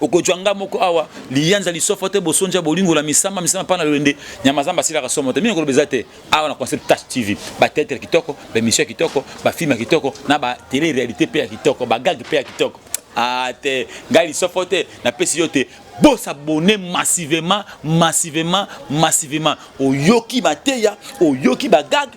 okojwa nga moko awa liyanza lisofo te bosonja bolingo la misama misama pana lolende nyama zamba silaka somo te mimi koloba eza te awa na concept touch tv ba théâtre kitoko ba émission kitoko ba film kitoko na ba télé réalité pe ya kitoko ba gag pe ya kitoko ah te ngai lisofo te napesi yo te bosabone massivement massivement massivement oyoki mateya oyoki bagage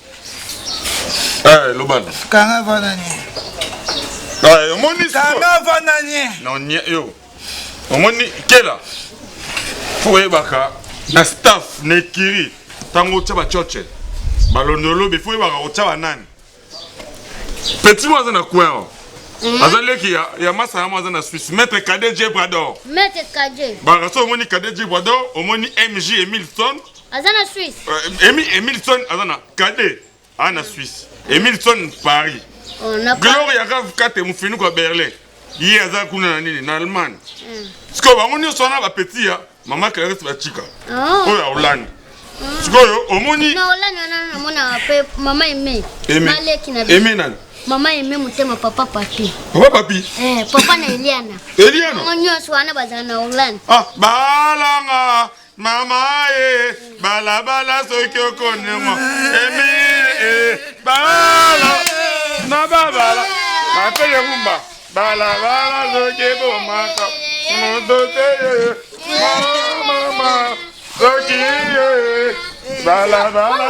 Eh, loba na. Kanga vana ni. Ah, omoni sikoyo. Kanga vana ni. Non, ni yo. Omoni kela. Faut oyebaka na staff na ekiri ntango otya bacoce balondolobi faut oyebaka otya banani petit mo aza na coin o mm. aza leki ya, ya masa yamo aza na suisse maître cadet jebrador baraka so omoni cadet jebrador omoni mg emilson aza na suisse euh, emilson aza na kade aza na suisse emilson paris oh, gloria kavkate mofinuku ya berlin ye aza kuna na nini na allemagne hmm. sikoyo bango nyonso wana bapetit ya mama clarisse bacika oh. oyo ya hollande hmm. sikoyo omoni eme nani mama eme motema papa papi papa papi eh, papa na eliana eliana nyonso wana bazala na hollande ah, balanga mama ye balabala soki okonema emi e bala na babala mapele kumba balabala soki ebomaka moto te mama soki ye balabala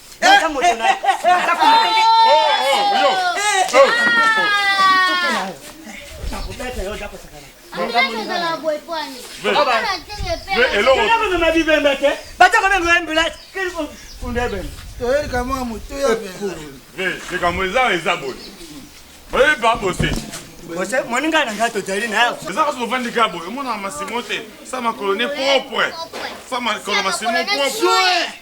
likambo eza eza boye oyebi babose bose moninga na ngai tozali nayo eza kasi ovandi ka boye omonaka masimo te sa makolo ne propre sa makolo masimo propre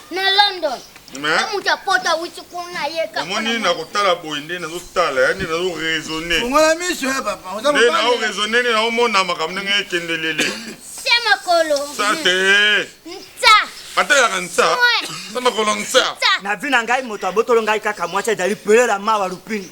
na london to moto ya poto awuti kuna yeomoni nakotala boye nde nazotala ya nde nazo raisonne nde nao raisonne nde naomona makambo ndenge ekende lele se makolo sa te nsa ateyaka nsa sa makolo nsa na vi na ngai moto abotolo ngai kaka mwasi ezali pelela mawa lupini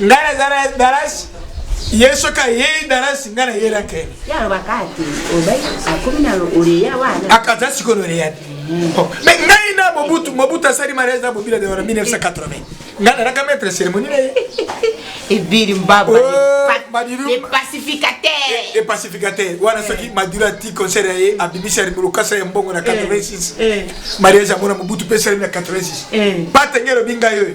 nga naza na dalasi ye soki ayei dalasi nga nayelaka ye akaza sikoyo loreya te me ngai na mobutu mobutu asali mariage na bobila de wana 1980 nga nalaka maître cérémonie na ye ebiri mbaba oh, le pacificateur le pacificateur wana eh. soki maduro ati concert ya ye abimisi ya lokasa ya mbongo na 86 eh. eh. mariage yango na mobutu mpe esalemi na 86 patenge elobi ngai oyo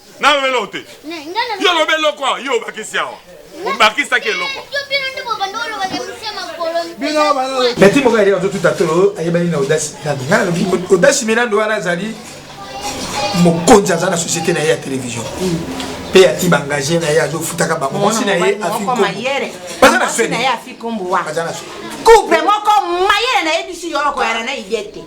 nayo eloko te yo olobi eloko awa yo obakisi awa obakisaki eloko beti moko yali azotuta tolo ayebani na odasi milando ngai nalobi odasi milando wana azali mokonzi aza na société na ye ya télévision mpe hmm. ati baengage na ye azofutaka bango mwasi na ye afibaza na swebaza na swe couple moko mayele nayebisi yo okoyana na idete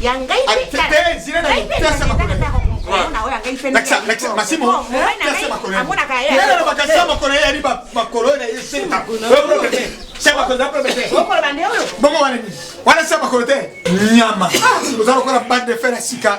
ya ngai amonaka yeokoloba nde oyo bongo wana nini wana sa makolo te nyama oza lokola bande de fer ya sika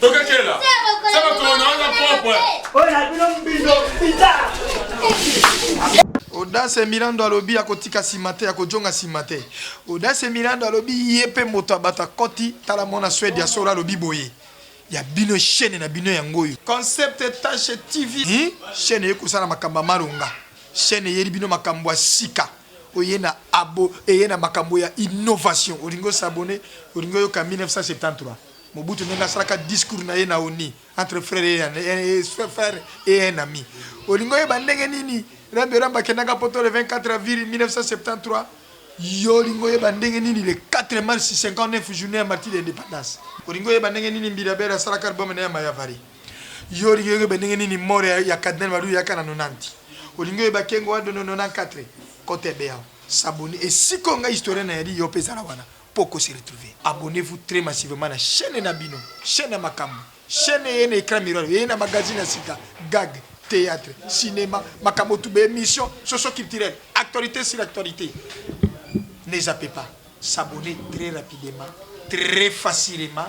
Tokekela. Saba kono wana propre. Oyo na bino mbindo pita. Odase Milando alobi akotika sima te akojonga sima te. Odase Milando alobi ye mpe moto abata koti tala mwana Swede ya solo alobi boye ya bino chaîne na bino yango oyo concept tache tv hmm? chaîne eye kosala makambo ya malonga chaîne eyeli bino makambo ya sika oye na abo eye na makambo ya innovation olingi osabone olingi oyoka 1973 Mobutu ndenge asalaka discours na ye na onu entre frère et un ami olingi oyeba ndenge nini Rabbi Ramba akendaka poto le 24 avril 1973 yo olingi oyeba ndenge nini le 4 mars 59 journée ya martyr ya independance olingi oyeba ndenge nini Mbirabel asalaka album na ya Mayavari yo olingi oyeba ndenge nini mort ya Cardinal Malu yaka na 90 olingi oyeba Kengo Ado na 94 kota ebeyawo s'abonner esiko nga historien na yali yo pe zala wana. po ko se retrouver. Abonnez vous très massivement na chaine na bino, chaine ya makambu, chaine eye na ecran miroir, eye na magazine ya sika, gag, theatre, cinema, makambo tout, ba emission socio culturel, actualite sur actualite. Ne zappez pas, s'abonner très rapidement, très facilement.